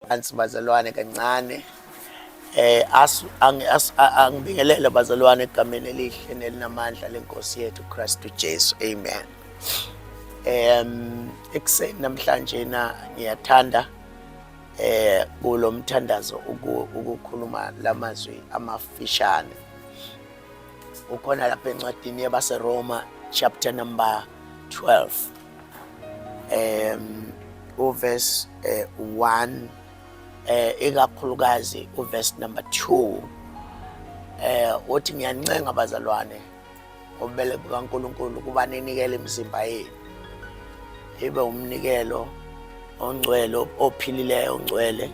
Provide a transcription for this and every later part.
Phansi bazalwane kancane eh as angibingelele bazalwane egameni elihle nelinamandla lenkosi yethu Kristu Jesu amen em ekseni namhlanje na ngiyathanda eh kulomthandazo ukukhuluma lamazwi amafishane ukhona lapha encwadini yabaseRoma chapter number 12 um uverse eh, 1 eh ikakhulukazi uverse number 2 eh uthi ngiyancenga bazalwane ngobele bukaNkuluNkulu kuba ninikele imizimba yenu ibe umnikelo ongcwele ophilileyo ongcwele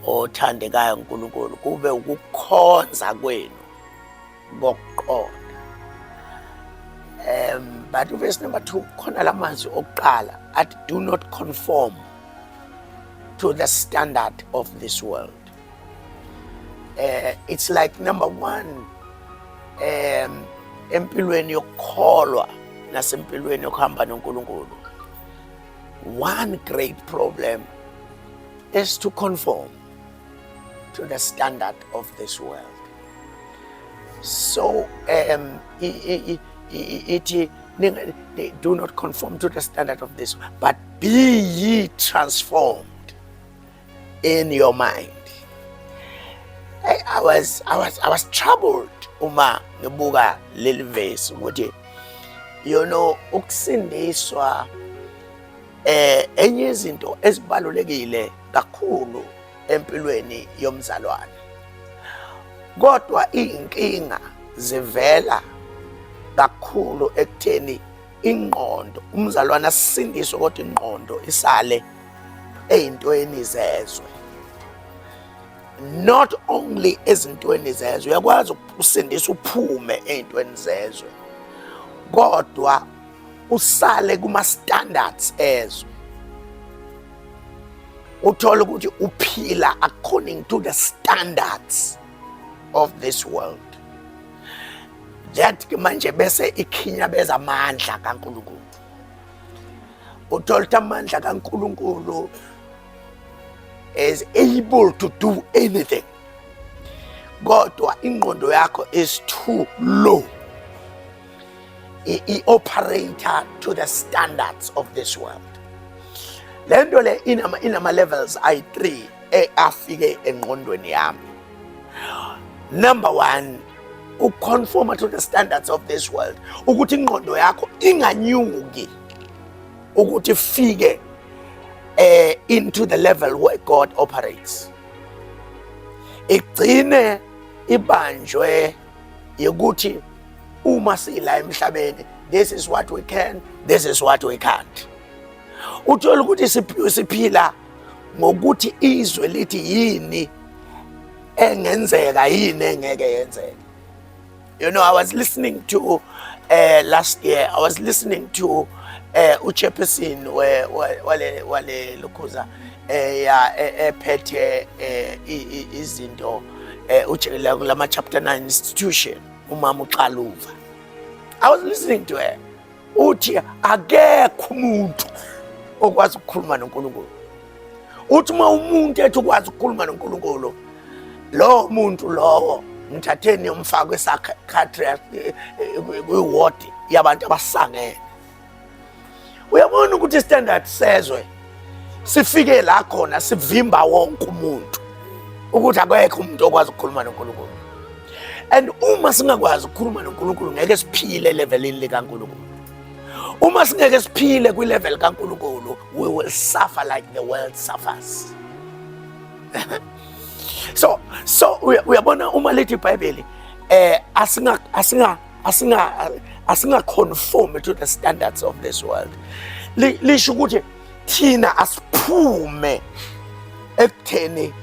othandekayo uNkulunkulu kube ukukhonza kwenu ngokuqonda um but uvesi number two khona la mazwi okuqala athi do not conform to the standard of this world uh, it's like number one um empilweni yokukholwa nasempilweni yokuhamba nonkulunkulu one great problem is to conform to the standard of this world so um, ithi do not conform to the standard of this but be ye transformed in your mind I, I was I was I was troubled uma ngibuka leli verse ukuthi you know ukusindiswa Eh enye izinto ezibalulekile kakhulu empilweni yomzalwane. Kodwa izinkinga zivela kakhulu ekutheni ingqondo umzalwane asindiswe kodwa ingqondo isale eyintweni zezwe not only ezintweni zezwe uyakwazi ukusindisa uphume eyintweni zezwe kodwa usale kuma standards ezwe uthola ukuthi uphila according to the standards of this world that manje bese ikhinyabeza amandla kaNkulunkulu uthola ukuthi amandla kaNkulunkulu is able to do anything kodwa ingqondo yakho is too low i-operator to the standards of this world le nto le inama-levels ayi-three e, afike engqondweni yami number one ukuconforma to the standards of this world ukuthi ingqondo yakho inganyuki ukuthi fike eh into the level where God operates igcine ibanjwe yokuthi uma sila emhlabeni this is what we can this is what we can't uthola ukuthi siphila ngokuthi izwe lithi yini engenzeka yini engeke yenzeka you know i was listening to uh, last year i was listening to uh, uchairperson wale wale lukhuza eya e, ephethe e, izinto e, ujekelela kulama chapter 9 institution umama uxaluva i was listening to her uthi akekho umuntu okwazi ukukhuluma noNkulunkulu uthi uma umuntu ethi ukwazi ukukhuluma noNkulunkulu lowo muntu lowo mthatheni yomfaka kwesakhe kwiwodi yabantu abasangene uyabona ukuthi istandard sezwe sifike la khona sivimba wonke umuntu ukuthi akekho umuntu okwazi ukukhuluma noNkulunkulu and uma singakwazi ukukhuluma noNkulunkulu ngeke siphile levelini likaNkulunkulu uma singeke siphile kwilevel kaNkulunkulu we will suffer like the world suffers so so uyabona uma lithi ibhayibheli eh asinga asinga asinga asinga conform to the standards of this world lisho ukuthi thina asiphume ekutheni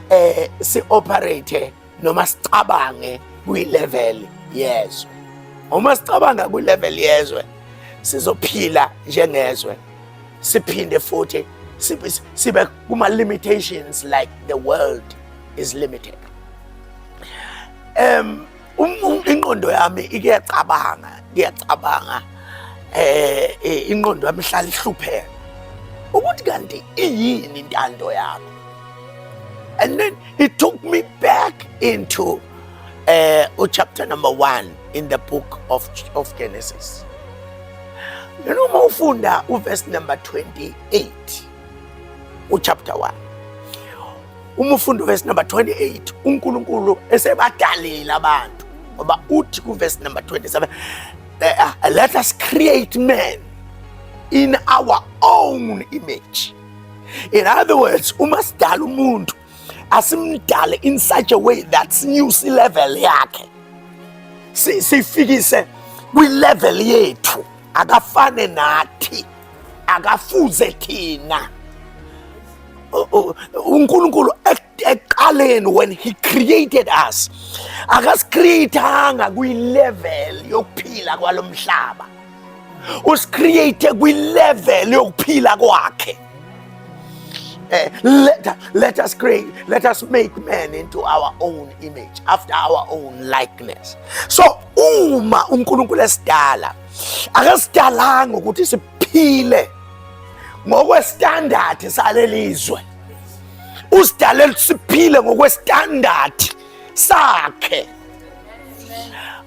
eh si operate noma sicabange kwi level yezwe uma sicabanga kwi level yezwe sizophila njengezwe siphinde futhi sibe kuma limitations like the world is limited um inqondo yami ikuyacabanga ngiyacabanga eh, eh inqondo yami ihlala ihlupheka ukuthi kanti iyini intando yakho and then it took me back into uh, chapter number one in the book of, of Genesis. You know, Mofunda, verse number 28. uchapter 1 umufundi verse number 28 uNkulunkulu esebadalile abantu ngoba uthi ku verse number 27 eh, ah, let us create man in our own image in other words uma sidala umuntu asimdale in such a way that sinyuse level yakhe sifikise kwi level yethu akafane nathi akafuze thina uNkulunkulu ekuqaleni when he created us akasicreatanga kwilevel yokuphila kwalomhlaba usicreate kwilevel yokuphila kwakhe eh, let, let us create let us make man into our own image after our own likeness so uma uNkulunkulu esidala akasidalanga ukuthi siphile ngokwestandadi salelizwe usidalele ukuthi siphile ngokwestandadi sakhe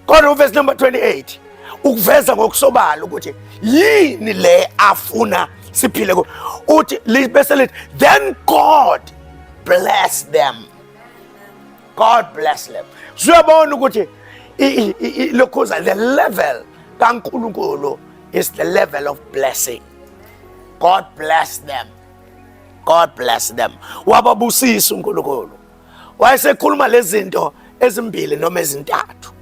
kodwa uvesi number 28 ukuveza ngokusobala ukuthi yini le afuna siphile ku uthi bese lithi then god bless them God bless them. Siyabona ukuthi lokhuza the level kaNkulunkulu is the level of blessing. God bless them. God bless them. Wababusisa uNkulunkulu. Wayesekhuluma lezinto ezimbili noma ezintathu.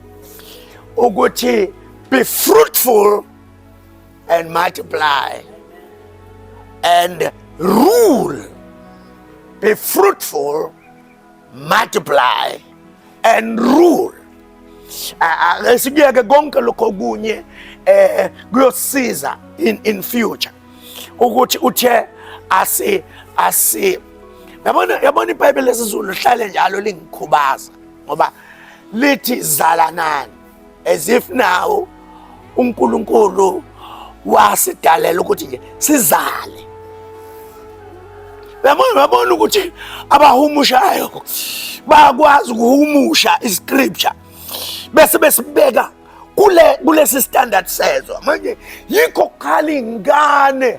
Ukuthi be fruitful and multiply and rule. Be fruitful multiply and rule. Esikuyeke konke lokho okunye eh kuyosiza in in future ukuthi uthe asi asi yabona yabona iBhayibheli lesizulu lihlale njalo lingikhubaza ngoba lithi zalanani as if now uNkulunkulu wasidalela ukuthi nje sizale yabona babona ukuthi abahumushayo bakwazi ukuhumusha iscripture bese besibeka kule kulesi standard sezwa manje yikho kukhala ingane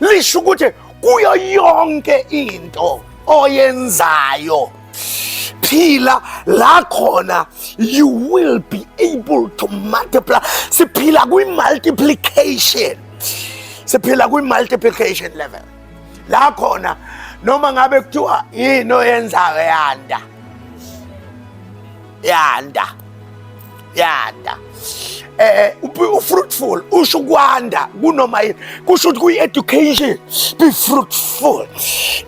lisho ukuthi kuyo yonke into oyenzayo phila la khona you will be able to multiply siphila kwi multiplication siphila kwi multiplication level la khona noma ngabe kuthiwa yini oyenzayo yanda yanda yanda eh, eh fruitful usho kwanda kunoma yini kusho ukuthi kuyi education be fruitful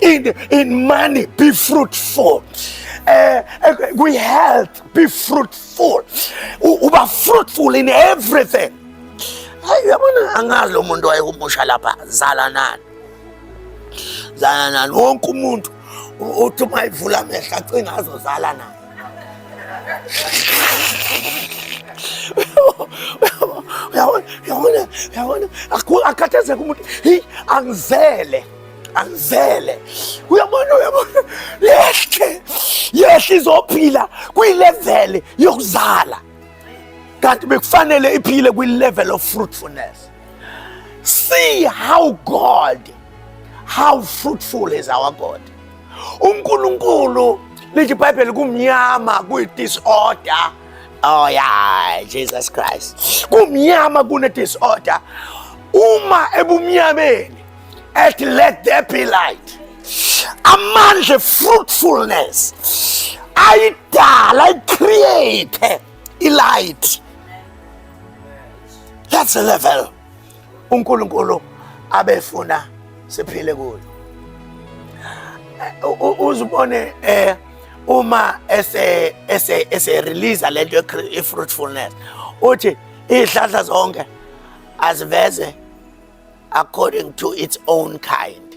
in in money be fruitful eh, eh kuyi health be fruitful uba fruitful in everything hayi yabona angazi lo muntu wayehumusha lapha zalanani zalanani wonke umuntu uthi uma evula amehlo acinga azozala naye uyabona uyabona uyabona akhathazeka umuntu heyi angizele angizele uyabona uyabona yehle yehle izophila kwileveli yokuzala kanti bekufanele iphile kwi-level of fruitfulness see how god how fruitful is our god uNkulunkulu lithi iBhayibheli kumnyama kuyi-disorder oh yeah Jesus Christ kumnyama kune-disorder uma ebumnyameni ethi let there be light amandla fruitfulness ayidala icreate ilight that's a level uNkulunkulu abefuna siphile kuyo uzibone eh uma ese ese ese release lento e fruitfulness uthi izihlahla zonke aziveze according to its own kind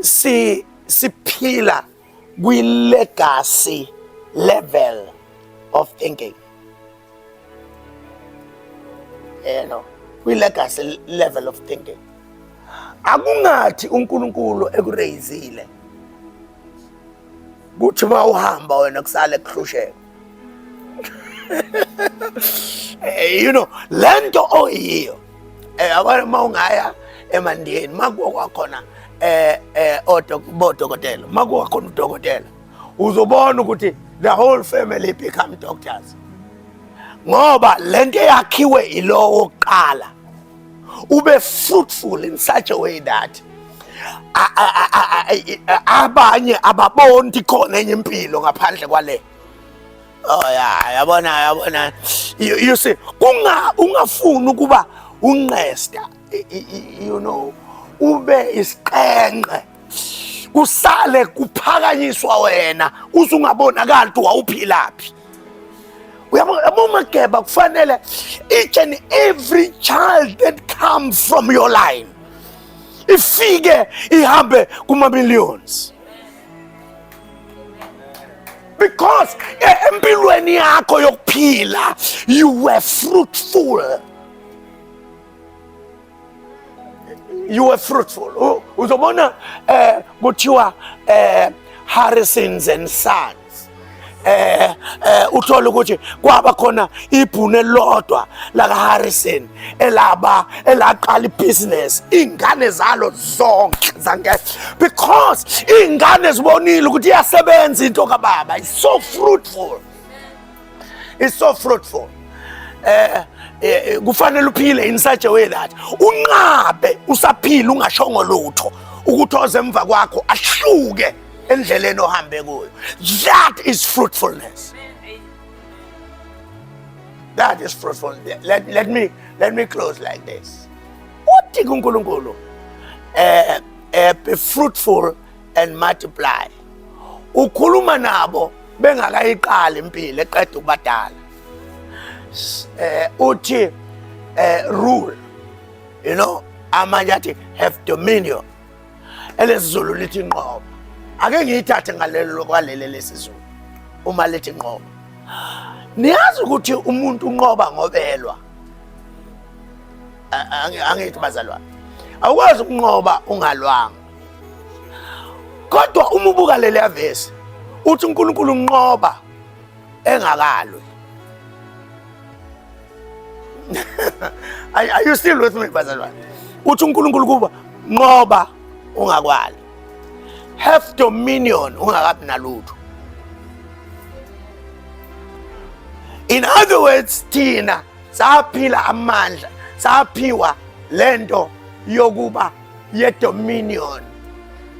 si siphila kwi legacy level of thinking you know kwi legacy level of thinking akungathi uNkulunkulu ekureyizile kuthi uma uhamba wena kusale kuhlusheka Eh, you know lento oyiyo eh abanye uma ungaya emandiyeni makuwa kwakhona eh eh odokotela makuwa khona udokotela uzobona ukuthi the whole family become doctors ngoba lento yakhiwe ilowo qala ube fruitful in such a way that abanye ababoni khona enye impilo ngaphandle kwale oh ya yabona yabona you see kunga ungafuni ukuba unqesta you know ube isiqenqe kusale kuphakanyiswa wena uzungabonakali ukuthi wawuphilaphi uyabomageba kufanele each and every child that comes from your line ifike ihambe kuma-millions because eh, empilweni yakho yokuphila you were fruitful you were fruitful uzobona eh kuthiwa eh Harrisons and Sons eh eh uthola ukuthi kwaba khona ibhune lodwa laka Harrison elaba elaqala ibusiness ingane zalo zonke zange because ingane zibonile ukuthi iyasebenza into kababa is so fruitful It's so fruitful. Eh, eh kufanele uphile in such a way that unqabe usaphila ungashongo lutho ukuthi oze emva kwakho ahluke endleleni ohambe kuyo. That is fruitfulness. That is fruitful. Let, let me let me close like this. Uthi kuNkulunkulu eh eh be fruitful and multiply ukhuluma nabo bengakayiqali impilo eqeda ukubadala eh uthi eh rule you know amanye athi have dominion elesizulu lithi nqoba ake ngiyithathe ngalelo kwalele lesizulu uma lithi nqoba niyazi ukuthi umuntu unqoba ngobelwa angithi bazalwane awukwazi ukunqoba ungalwanga kodwa uma ubuka leli avesi uthi uNkulunkulu unqoba engakalwe are you still with me bazalwane uthi uNkulunkulu kuba nqoba ungakwali have dominion ungakabi nalutho in other words thina saphila amandla saphiwa lento yokuba yedominion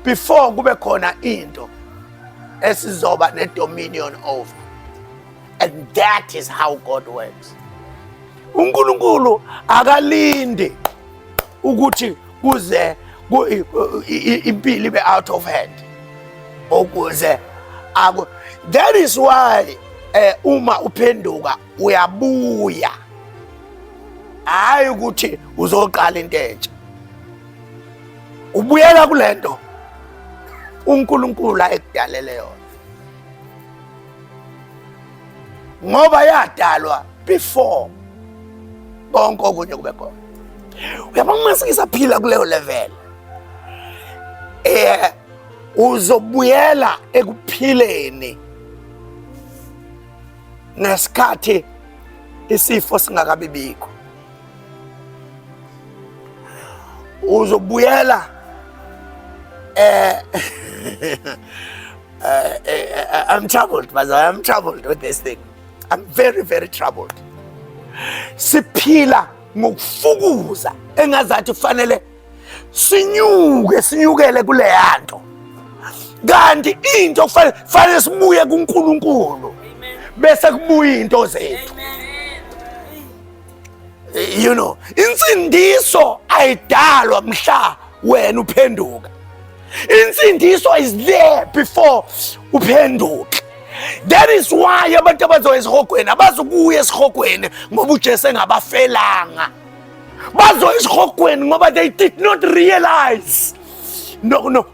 before kube khona into esizoba nedominion over and that is how God works uNkulunkulu akalindi ukuthi kuze impilo ibe out of hand ukuze aku that is why eh uma uphenduka uyabuya hhayi ukuthi uzoqala into entsha ubuyela kule nto unkulunkulu ayekudalele yona ngoba yadalwa before konke okunye kube khona uyaba kumasikisa phila kuleyo level eh uzobuyela ekuphileni ngesikhathi isifo singakabi bikho uzobuyela eh, eh, eh I'm troubled but I'm troubled with this thing I'm very very troubled siphila ngokufukuza engazathi kufanele sinyuke sinyukele kuleya nto kanti into kufanele sibuye kuNkulunkulu bese kubuya into zethu you know insindiso ayidalwa mhla wena uphenduka insindiso is there before uphenduke that is why abantu abazoya esihogweni abazukuya esihogweni ngoba ujesu engabafelanga bazoya esihogweni ngoba they did not realize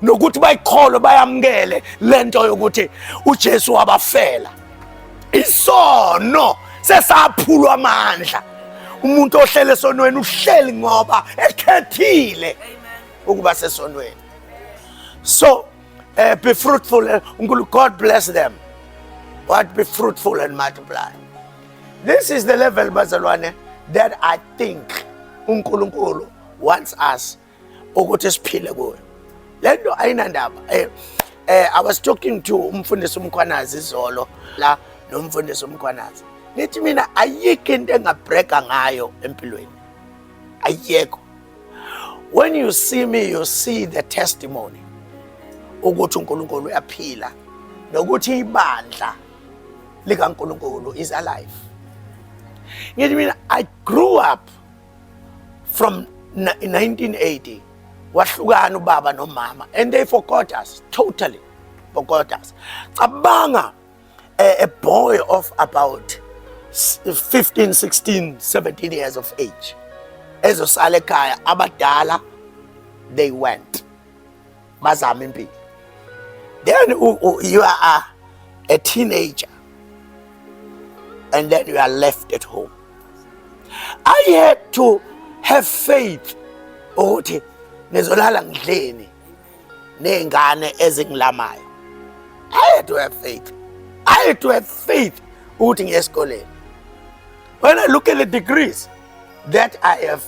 nokuthi bayikholwe bayamukele le nto yokuthi ujesu wabafela isono sesaphulwa amandla umuntu ohlele esonweni uhleli ngoba ekhethile ukuba sesonweni so uh, be fruitful eh, unkulu god bless them what be fruitful and multiply This is the level bazalwane that I think uNkulunkulu wants us ukuthi siphile kuyo. Lento ayinandaba. Eh, eh I was talking to umfundisi uMkhwanazi izolo la nomfundisi uMkhwanazi. Nithi mina ayikho into engabreka ngayo empilweni. Ayikho. When you see me you see the testimony ukuthi uNkulunkulu uyaphila nokuthi ibandla likaNkulunkulu is alive. Yet I mean I grew up from 1980 wahlukana ubaba nomama and they forgot us totally forgot us cabanga a, a boy of about 15 16 17 years of age ezosala ekhaya abadala they went bazama impilo then you are a teenager and then you are left at home i had to have faith ukuthi ngizolala ngidleni nezingane ezingilamayo i had to have faith i had to have faith ukuthi ngiye esikoleni when i look at the degrees that i have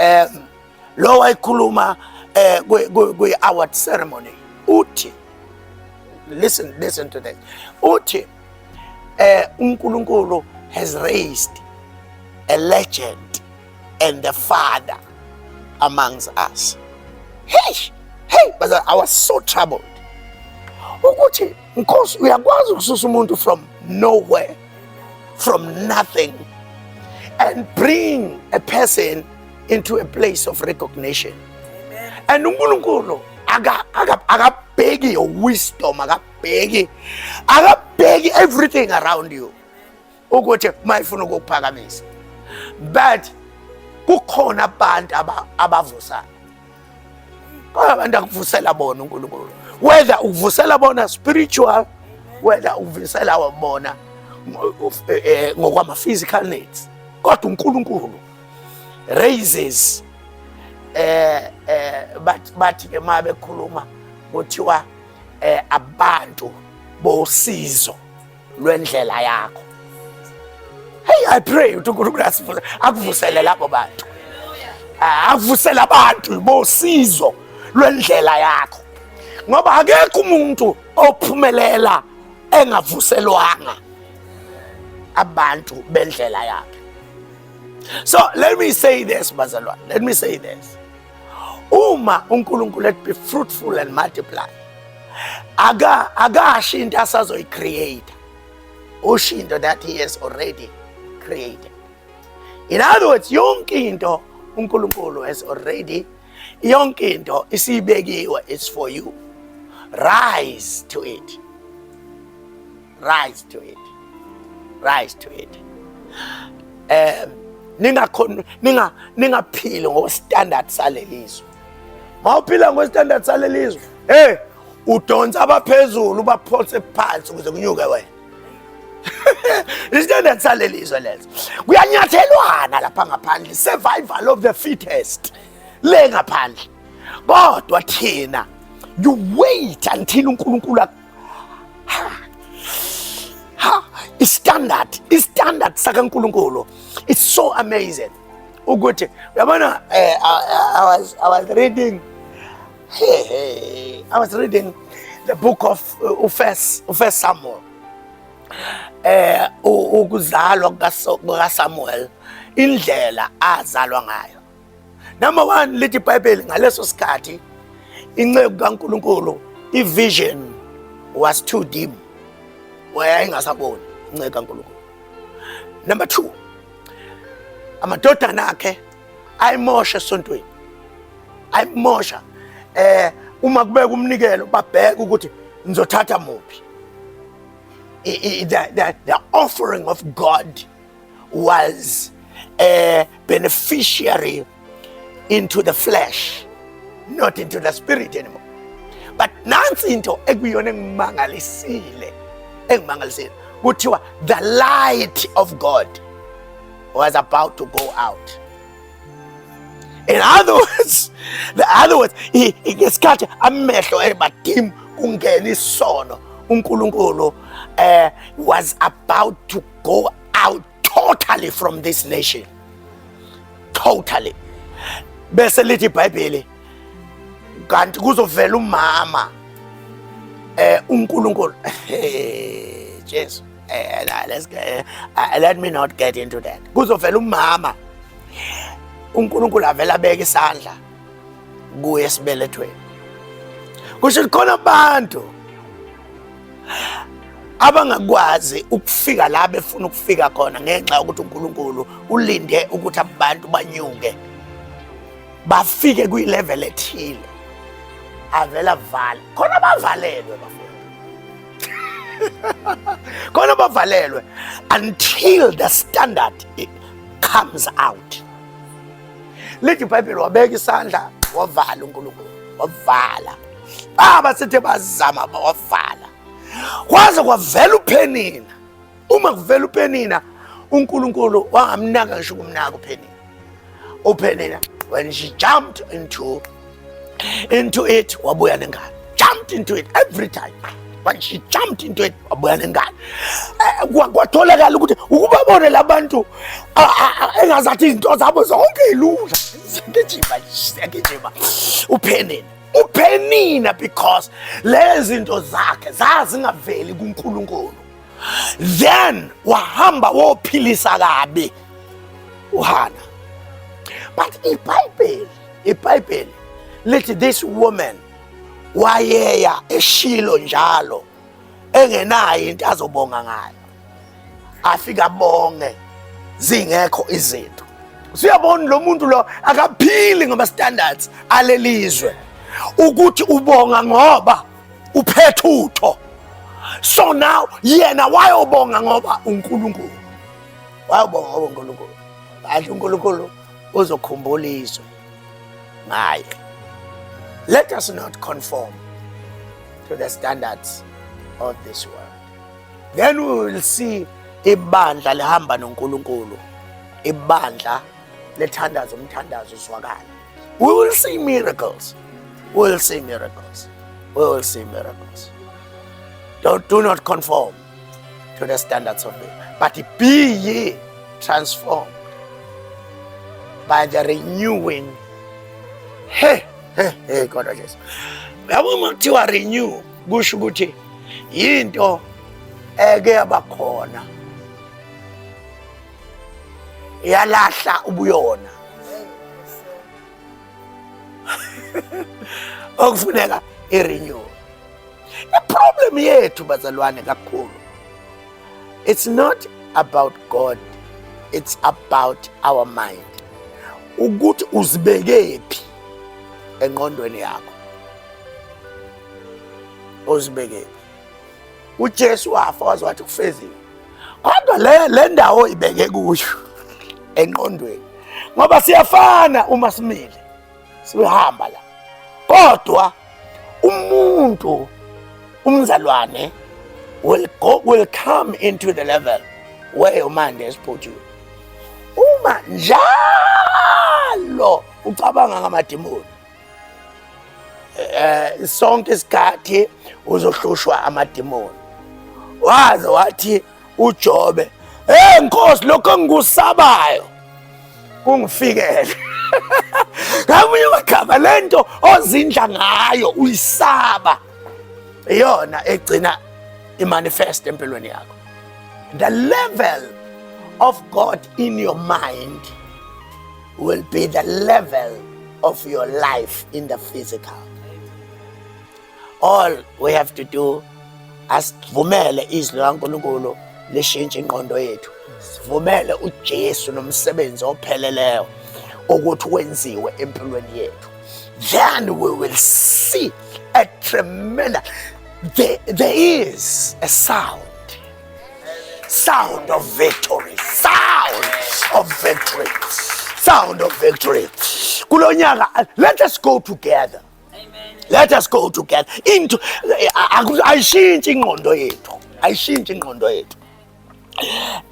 um lo wayikhuluma eh kwi award ceremony uthi listen listen to this uthi eh uNkulunkulu has raised a legend and the father amongst us hey hey but i was so troubled ukuthi nkosi uyakwazi ukususa umuntu from nowhere from nothing and bring a person into a place of recognition. Amen. And uNkulunkulu akabheki your wisdom, akabheki akabheki everything around you ukuthi mayifuna ukukuphakamisa but kukhona abantu abavusayo Kodwa abantu akuvusela bona uNkulunkulu. Whether ukuvusela bona spiritual, whether ukuvusela bona eh, eh, ngokwama physical needs. Kodwa uNkulunkulu raises eh eh bathi bathi ke uma bekhuluma kuthiwa eh abantu bosizo lwendlela yakho hey i pray ukuthi unkulunkulu asivuse akuvusele labo bantu ah, akuvusele abantu bosizo lwendlela yakho ngoba akekho umuntu ophumelela engavuselwanga abantu bendlela yakhe so let me say this bazalwane let me say this uma uNkulunkulu ethi be fruitful and multiply aka akasho into asazoyicreate usho into that he has already created in other words yonke into uNkulunkulu has already yonke into isibekiwe it's for you rise to it rise to it rise to it um ningakhona ninga ningaphili ngostandard salelizwe mawuphila ngostandard salelizwe hey udonsa abaphezulu ubaphose phansi ukuze kunyuke wena isithandad salelizwe leso kuyanyathelwana lapha ngaphandle survival of the fittest le ngaphandle kodwa thina you wait until unkulunkulu istandard istandard sakaNkuluNkulu it's so amazing ukuthi uyabona eh, I was I was reading hey, hey, I was reading the book of uh, uFirst uFirst Samuel eh ukuzalwa kukaSamuel indlela azalwa ngayo Number one, lithi iBhayibheli ngaleso sikhathi inceku kaNkulunkulu i-vision was too dim, wayayingasaboni inceku kaNkulunkulu. Number two, amadodana akhe ayimosha esontweni, ayimosha eh uma kubeka umnikelo babheke ukuthi ngizothatha muphi the, the, the offering of God was a beneficiary into the flesh, not into the spirit anymore. But nansi into ekuyona engimangalisile engimangalisile kuthiwa the light of God was about to go out. In other words, the other words, ngesikhathi amehlo ebadimu kungena isono uNkulunkulu eh was about to Go out totally from this nation. Totally. Bese lithi iBhayibheli kanti kuzovela umama eh uNkulunkulu eh Jesu eh let's get, uh, let me not get into that. Kuzovela umama uNkulunkulu avela beka isandla kuye esibelethweni kusho ukuthi khona abantu abangakwazi ukufika la befuna ukufika khona ngenxa yokuthi uNkulunkulu ulinde ukuthi abantu banyuke bafike kwi-level ethile avela vale khona bavalelwe bafundi khona bavalelwe until the standard comes out lithi ibhayibheli wabeka isandla wavala unkulunkulu wavala baba sithe bazama bawavala kwaze kwavela uphenina uma kuvela uphenina unkulunkulu wangamnaka ngisho ukumnaka uphenina uphenina when she jumped into into it wabuya nengane jumped into it every time but she jumped into it wabuya nengane eh, kwatholakala ukuthi ukubabone labantu engazathi izinto zabo zonke ilula siyagijima siyagijima uphenini uphenina because lezi zinto zakhe zazingaveli kuNkulunkulu then wahamba wophilisa kabi uhana but ibhayibheli ibhayibheli lithi this woman wayeya eshilo njalo engenayo into azobonga ngayo afika bonge zingekho izinto siyabona lo muntu lo akaphili ngama-standards alelizwe ukuthi ubonga ngoba uphethe utho so now yena wayobonga ngoba unkulunkulu wayobonga ngoba unkulunkulu adla unkulunkulu ozokhumbula izwe ngaye let us not conform to the standards of this world then we will see ibandla lihamba noNkulunkulu ibandla lethandaza umthandazo uzwakala we will see miracles we will see miracles we will see miracles don't do not conform to the standards of it. But be ye transformed by the renewing. Hey, hey, hey, God of Jesus. Yabo uma kuthiwa renew kusho ukuthi yinto eke yabakhona yalahla ubuyona okufuneka i-renew iproblem yethu bazalwane kakhulu it's not about god it's about our mind ukuthi uzibekephi engqondweni yakho uzibekephi uJesu wafa waze wathi kufezile kodwa le le ndawo ibeke kuyo enqondweni ngoba siyafana uma simile sihamba la kodwa umuntu umzalwane will go will come into the level where umande esiphuthile uma njalo ucabanga ngamadimoni eh sonke isikhathi uzohlushwa amademoni waze wathi uJobe hey nkosi lokho engikusabayo kungifikele ngamunye wagama lento ozindla ngayo uyisaba iyona egcina imanifest empilweni yakho the level of God in your mind will be the level of your life in the physical. All we have to do asivumele izwi likaNkulunkulu lishintshe inqondo yethu. Sivumele uJesu nomsebenzi opheleleyo ukuthi wenziwe empilweni yethu. Then we will see a tremendous there, there is a sound Sound of victory. Sound of victory. Sound of victory. Kulonyaka, let us go together. Amen. Let us go together. Into ayishintshi ingqondo yethu. Ayishintshi ingqondo yethu.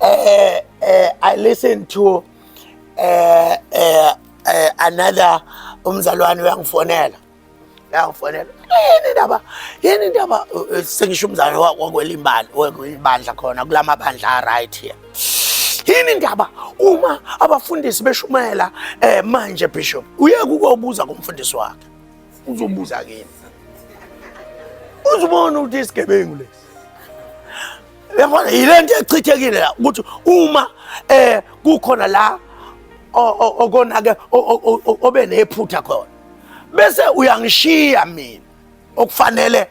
Eh eh I listen to eh eh another umzalwane uyangifonela Nakufanele. Yini ndaba? Yini ndaba eh, sengisho umzalo wakwelimbali wekwibandla khona kulamabandla right here. Yini ndaba uma abafundisi beshumayela eh manje bishop uyeke ukubuza kumfundisi wakhe. Uzobuza kimi. Uzibona ukuthi isigebengu lesi. Yabona yilento echithekile la ukuthi uma eh kukhona la okonake obe nephutha khona bese uyangishiya mina okufanele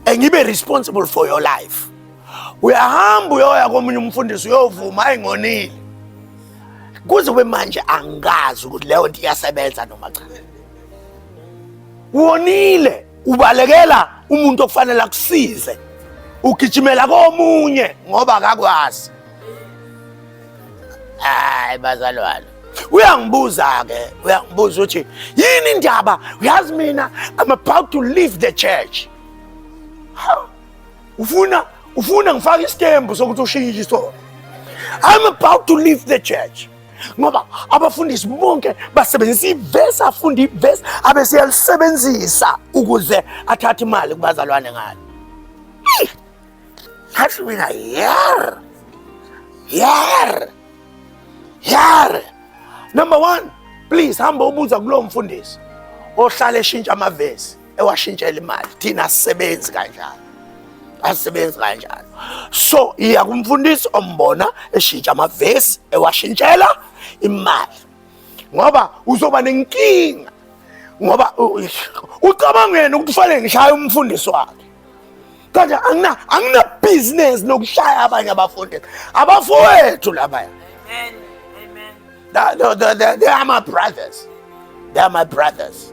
engibe eh, responsible for your life uyahamba uyoya komunye umfundisi uyovuma ayingonile kuze kube manje angazi ukuthi leyo nto iyasebenza noma cha wonile ubalekela umuntu okufanele akusize ugijimela komunye ngoba akakwazi hayi bazalwane uyangibuza ke uyangibuza ukuthi yini indaba uyazi mina i'm about to leave the church ufuna ufuna ngifake isitembu sokuthi ushintshe isona i'm about to leave the church ngoba abafundisi bonke basebenzisa ivesi afunda ivesi abeseyalisebenzisa ukuze athathe imali kubazalwane ngalo Ngathi mina yer. Yer. Yer. Number 1, please hamba ubuza kulo mfundisi ohlale eshintsha amavesi ewashintshela imali. Thina sisebenzi kanjalo. Asisebenzi kanjalo. So, iya kumfundisi ombona eshintsha amavesi ewashintshela imali. Ngoba uzoba nenkinga ngoba ucabanga yena ukuthi ufanele ngishaye umfundisi wakhe kodwa angina angina business nokushaya abanye abafundi abafowethu labaya amen amen no they, they, they are my brothers they are my brothers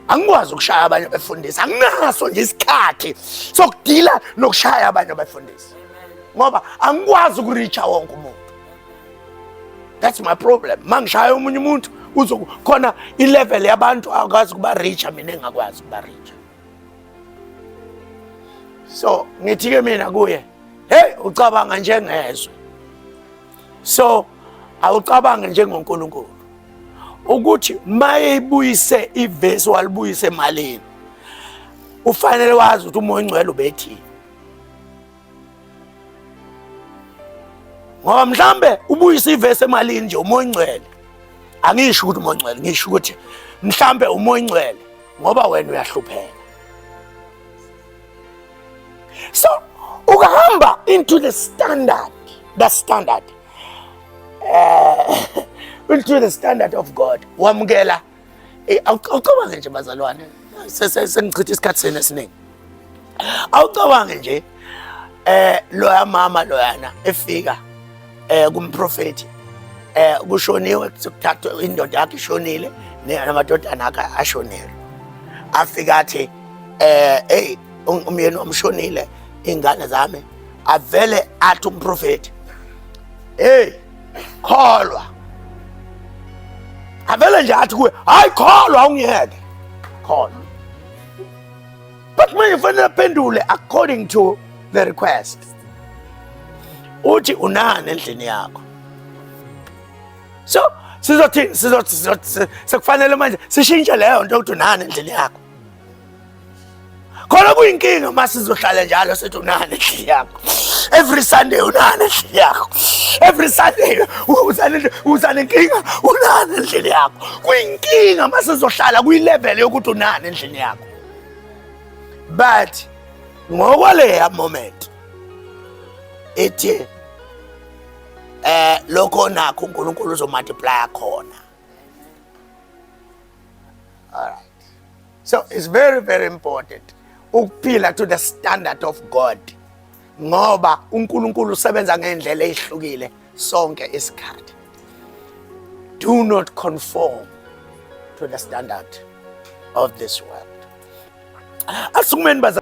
angikwazi ukushaya abanye abefundisi anginaso nje isikhathi sokudila nokushaya abanye abefundisi ngoba angikwazi ukureacha wonke umuntu that's my problem mangishaya omunye umuntu uzokhona ilevel yabantu akwazi ukuba reacha mina engakwazi ukuba reacha so ngithi-ke mina kuye heyi ucabanga njengezwe so awucabange njengonkulunkulu ukuthi mayeyibuyise ivesi walibuyise emalini ufanele wazi ukuthi umoya ongcwele ubethini ngoba mhlambe ubuyisa ivesi emalini nje umoya ongcwele angisho ukuthi umoya ongcwele ngisho ukuthi mhlambe umoya ongcwele ngoba wena uyahlupheka so ukahamba into the standard the standard uh, into the standard of god wamukela Eh, awucabange nje bazalwane sengichitha isikhathi senu esiningi awucabange nje eh loya mama loyana efika eh kumprofeti eh kushoniwe kuthathwa indoda yakhe ishonile namadodana akhe ashonile afika athi eh hey umyeni omshonile ingane zami avele athi umprofeti hey kholwa avele nje athi kuwe hayi kholwa ungiyeke kholwa but manje fanele aphendule according to the request uthi unani endlini yakho so sizothi sizothi sekufanele manje sishintshe leyo nto ukuthi unani endlini yakho khona kuyinkinga uma sizohlala njalo sithi unani endlini yakho every sunday unani endlini yakho every sunday uza nenkinga unani endlini yakho kuyinkinga uma sizohlala kuyilevele yokuthi unani endlini yakho but ngokwaleya moment ethi eh lokho nakho uNkulunkulu uzomultiplya khona all right so it's very very important ukuphila to the standard of god ngoba unkulunkulu usebenza ngendlela eyihlukile sonke isikhathi do not conform to the standard of this world asukumeni baza